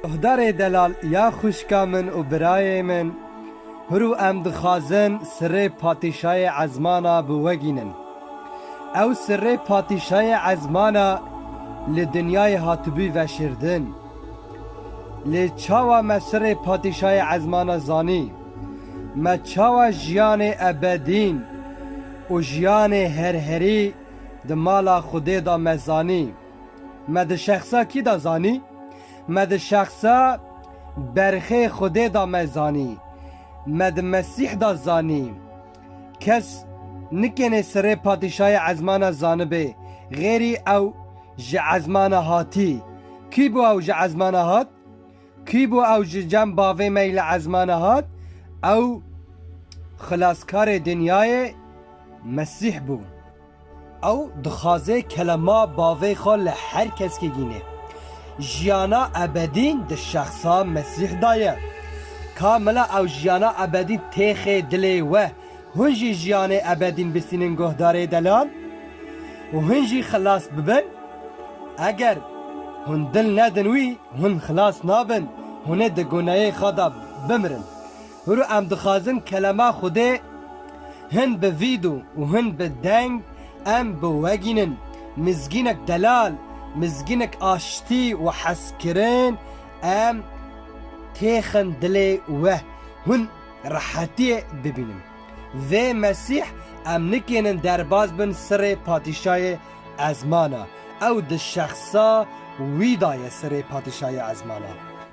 Guhdarê Delal ya xwişka min û birayê min, Huru em dixwazin sirrê Patîşayê Ezmana bi we gînin. Ew sirrê Patîşayê Ezmana li dinyayê hatibû veşirdin. Lê çawa me sirrê Patîşayê Ezmana zanî? Me çawa jiyanê ebedîn û jiyanê herherî di mala Xwedê de me zanî? Me di şexsa kî de zanî? Me di şexsa berxê Xwedê de me zanî. Me di Mesîh de zanî. Kes nikêne serê patîşayê ezmana zanibê, xêrî ew ji ezmana hatî. Kî bû ew ji ezmana hat? Kî bû ew ji cem bavê me yî li ezmana hat? Ew xilaskarê dinyayê Mesîh bû. Ew dixwaze kelema bavê xwe li her keskê gînê. Jiyana ebedî di şexsa Mesîh da ye. Ka mela ew jiyana ebedî têxê dilê we, hûn jî jiyanê ebedîn bistînin guhdarê delan û hûn jî xilas bibin? Eger hûn dil nedin wî, hûn xilas nabin, hûnê di guneyê xwe de bimirin. Hûru em dixwazin kelema Xwedê hin bi vîdo û hin bi deng em biwegînin. Mizgînek delal, mizgînek aştî û hezkirin em têxin dilê we, hûn rehetiyê bibînin. Vê Mesîh em nikênin derbas bin sirê patîşayê ezmana. Ew di şexsa wî da ye sirê patîşayê ezmana.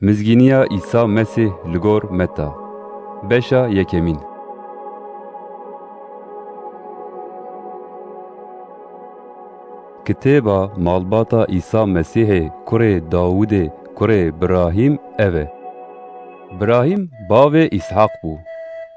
Mizgîniya Îsa Mesîh li gor Meta, beşa yekemîn. Kitêba malbata Îsa Mesîhê kurê Dawûdê kurê Birahîm ev e. Birahîm bavê Îshaq bû.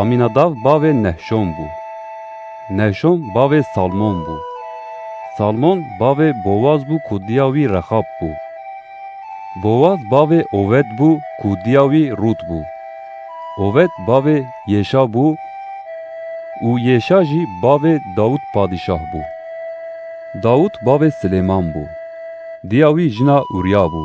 Amînadav bavê Nehşon bû. Nehşon bavê Salmon bû. Salmon bavê Bowaz bû ku diya wî Rexab bû. Bowaz bavê Owed bû ku diya wî Rût bû. Owed bavê Yêşa bû û Yêşa jî bavê Dawût padîşah bû. Dawût bavê Silêman bû. Diya wî jina Ûrya bû.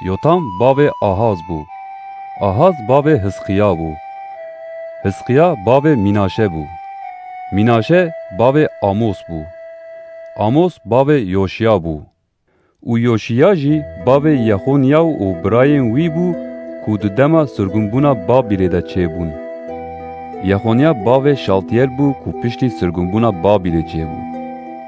Yotam bavê Ahaz bû. Ahaz bavê Hizqiya bû. Hizqiya bavê Mînaşe bû. Mînaşe bavê Amos bû. Amos bavê Yoşiya bû. Û Yoşiya jî bavê Yexonîyaw û birayên wî bû ku di dema sirgûnbûna Babîlê de çêbûn. Yexonîya bavê Şaltîyel bû ku piştî sirgûnbûna Babîlê çêbû.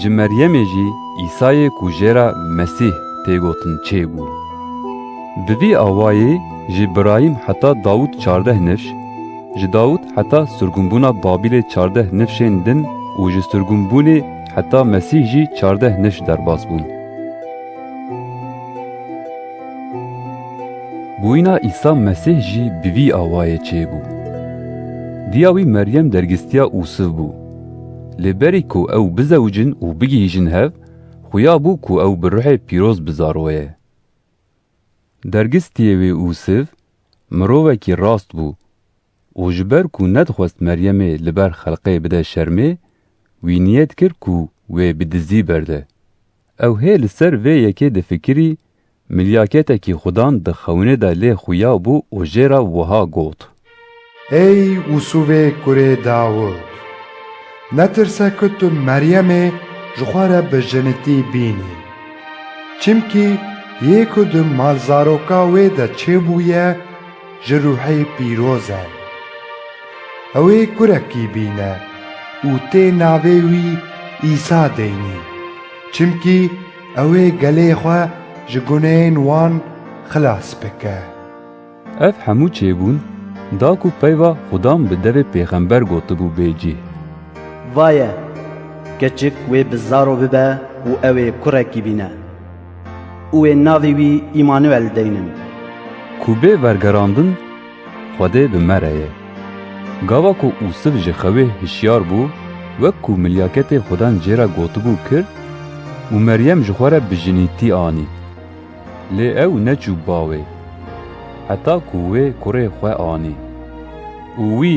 Ji Meryemê jî Îsayê ku jê re Mesîh tê gotin çêbû. Bi vî awayî ji Birayîm heta Dawûd çardeh nifş, ji Dawûd heta surgunbûna Babîlê çardeh nifşên din û ji surgunbûnê heta Mesîh jî çardeh nifş derbas bûn. Bûyîna Îsa Mesîh jî bi vî awayê çêbû. Diya wî Meryem dergîstiya Ûsif bû. Lê berî ku ew bizewicin û bigihîjin hev, xuya bû ku ew bi ruhê pîroz bi zaroye. Dergistiyê wê Ûsiv, mirovekî rast bû û ji ber ku nedixwest Meryemê li ber xelqê bide şermê, wî niyet kir ku wê bi dizî berde. Ew hê li ser vê yekê difikirî, milyaketekî xudan di xewinê de lê xuya bû û jê re wiha got. Ey Usûvê kurê Dawûd! Netirse ku tu Meryemê ji xwe re bi jinitî bînî. Çimkî yê ku di malzaroka wê de çêbûye, ji ruhê pîroz e. Ew ê kurekî bîne û tê navê wî Îsa deynî, çimkî ew ê gelê xwe ji guneyên wan xilas bike. Ev hemû çêbûn da ku peyva Xudan bi devê pêxember gotibû bê cih. Vaye! Keçik wê bi zaro bibe û ew ê kurekî bîne. Û wê navê wî Îmanuel deynin. Ku bê vergerandin Xwedê bi me re ye. Gava ku Usif ji xewê hişyar bû wek ku milyaketê Xwedan cê re gotibû kir û Meryem ji xwe re bi jinîtî anî. Lê ew neçû bawê heta ku wê kurê xwe anî. Û wî